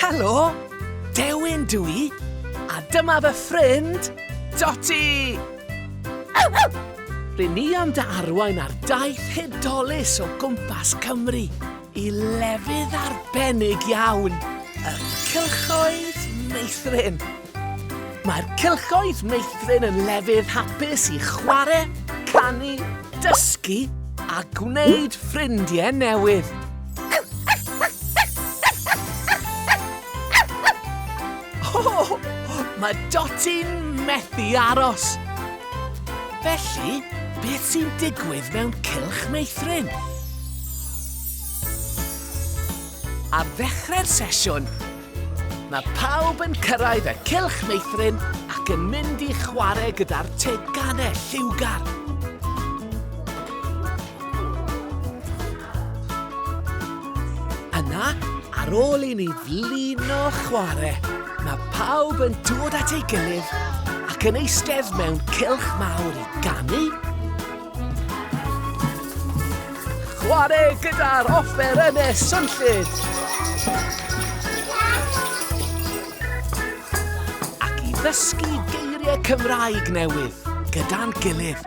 Helo! Dewin dw i, a dyma fy ffrind, Dotty! R'yn ni am dy arwain ar daith hudolus o gwmpas Cymru. I lefydd arbennig iawn, y cylchoedd meithrin. Mae'r cylchoedd meithrin yn lefydd hapus i chwarae, canu, dysgu a gwneud ffrindiau newydd. Oh, mae Doti'n methu aros. Felly, beth sy'n digwydd mewn cylch meithrin? Ar ddechrau'r sesiwn, mae pawb yn cyrraedd y cylch meithrin ac yn mynd i chwarae gyda'r teganau lliwgar. Yna, ar ôl i ni flino chwarae, mae pawb yn dod at ei gilydd ac yn eistedd mewn cylch mawr i ganu, Chwarae gyda'r offerynnau swnllyd! Ac i ddysgu geiriau Cymraeg newydd gyda'n gilydd.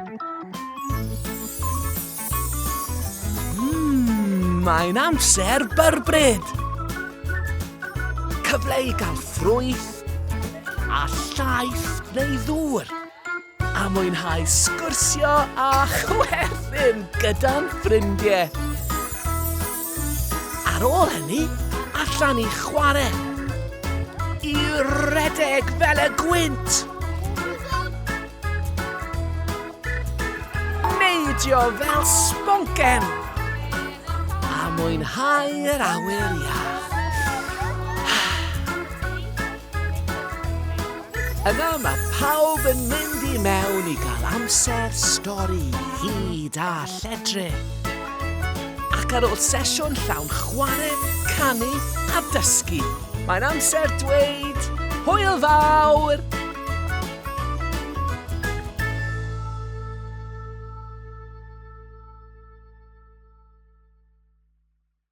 Mmm, mae'n amser byrbryd! Cyfle i gael ffrwyth a llaeth neu ddŵr. a mwynhau sgwrsio a chwerthin gyda'n ffrindiau. Ar ôl hynny, allan i chwarae. I redeg fel y gwynt. Neidio fel sponken. A mwynhau yr awyr iach. Yna mae pawb yn mynd i mewn i gael amser stori hud a lledri. Ac ar ôl sesiwn llawn chwarae, canu a dysgu, mae'n amser dweud hwyl fawr!